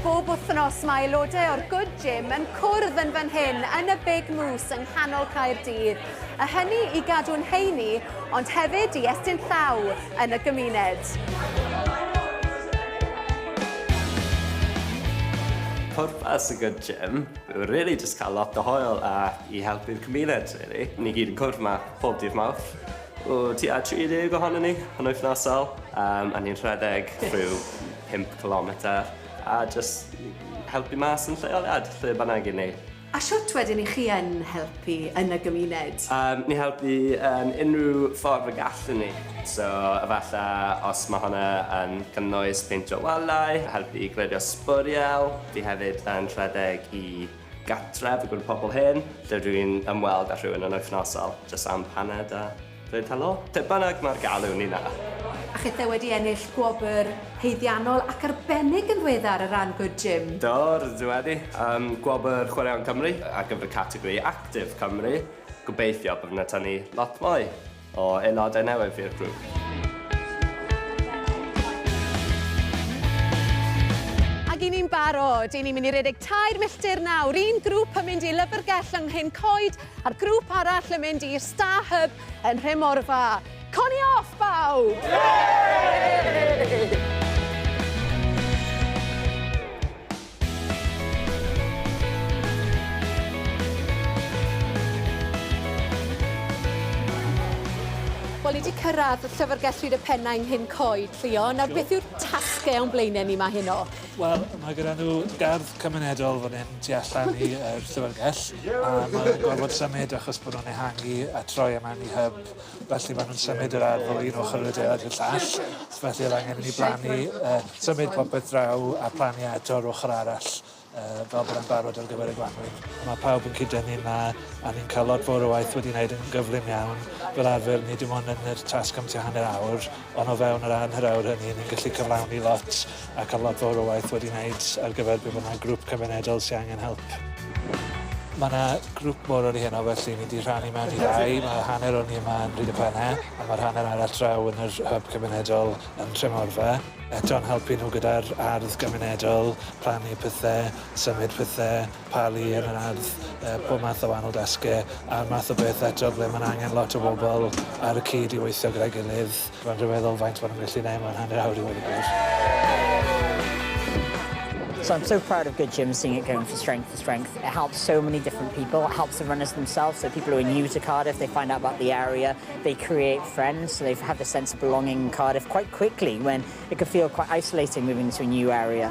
Bob wythnos mae aelodau o'r Good Gym yn cwrdd yn fan hyn yn y Big Moose yng nghanol Caerdydd, a hynny i gadw'n heini ond hefyd i estyn llaw yn y gymuned. Pwrpas y good gym yw rili jyst cael lot o hwyl a i helpu'r cymuned rili. Ni gyd yn cwrdd 'ma pob dydd Mawrth. O tua 30 ohonyn ni yn wythnosol yym a ni'n rhedeg rhyw pump cilometr a jyst helpu mas yn lleoliad lle bynnag 'yn ni. A shwt wedyn i chi yn helpu yn y gymuned? Yym, ni helpu yn unrhyw ffordd y gallwn ni. So, efalla os mae hwnna yn cynnwys peintio wallau, helpu i glirio sbwriel, fi hefyd yn rhedeg i gartref i gwrdd pobl hen, lle rwy'n ymweld â rhywun yn wythnosol, jyst am hanner da. Rhaid talo? Lle bynnag mae'r galw, Nina. A chithau wedi ennill gwobr haeddiannol ac arbennig yn ddiweddar ar ran Good Gym. Do, rydw i wedi. Am gwobr Chwaraeon Cymru ar gyfer y categori Actif Cymru. Gobeithio bydd yna tynnu lot mwy o aelodau newydd i'r grŵp. Ac i ni'n barod, i ni'n mynd i redeg tair milltir nawr, un grŵp yn mynd i Lyfrgell yng Nghyn Coed, A'r grŵp arall yn mynd i'r Star Hub yn Rhemorfa. Coni off, bawb! Yay! Wel, ni 'di cyrraedd Llyfrgell Rhydd y Pennau yng Nghyn Coed, Llio. Nawr, beth yw'r tasge o'n blaene ni 'ma heno? Wel, mae gyda nhw gardd cymunedol fan hyn. tu allan i yr llyfrgell a ma' nw'n gorfod symud achos bo' nw'n ehangu a troi e mewn i hyb felly ma' nw'n symud yr ardd o un ochor yr adeilad i'r llall so felly o'dd angen i ni blannu yy symud popeth draw a plannu e eto ar ochor arall yy fel bod e'n barod ar gyfer y gwanwyn. Ma' pawb yn cyd-dynnu 'ma a ni'n ca'l lot fowr o waith wedi neud yn gyflym iawn fel arfer ni dim ond yn yr tasg am tua hanner awr Ond o fewn yr anhur aur hynny, ni'n gallu cyflawni lot ac am lot fawr o waith wedi wneud ar gyfer be bynnag grŵp cymunedol sy angen help. Mae yna grŵp mor oer i heno felly ni 'di rhannu mewn i ddau, mae hanner o ni yma yn Rhyd y Penne a mae'r hanner arall draw yn yr hyb cymunedol yn Tremorfa. Eto'n helpu nhw gyda'r ardd gymunedol, plannu pethe, symud pethe, talu yn yr ardd, yy pob math o wahanol dasge a'r math o beth eto ble ma'n angen lot o bobol ar y cyd i weithio gyda'i gilydd. Ma'n rhyfeddol faint ma' nw'n gallu neud mewn hanner awr i weud y gwir. So I'm so proud of Good Gym seeing it going from strength to strength. It helps so many different people. It helps the runners themselves, so people who are new to Cardiff, they find out about the area, they create friends, so they have the sense of belonging in Cardiff quite quickly when it could feel quite isolating moving to a new area.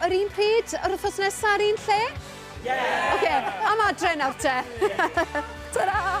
Yr un pryd, yr wythnos nesa, yr un lle? Yeah! Oce, am adre nawr te. Ta-ra!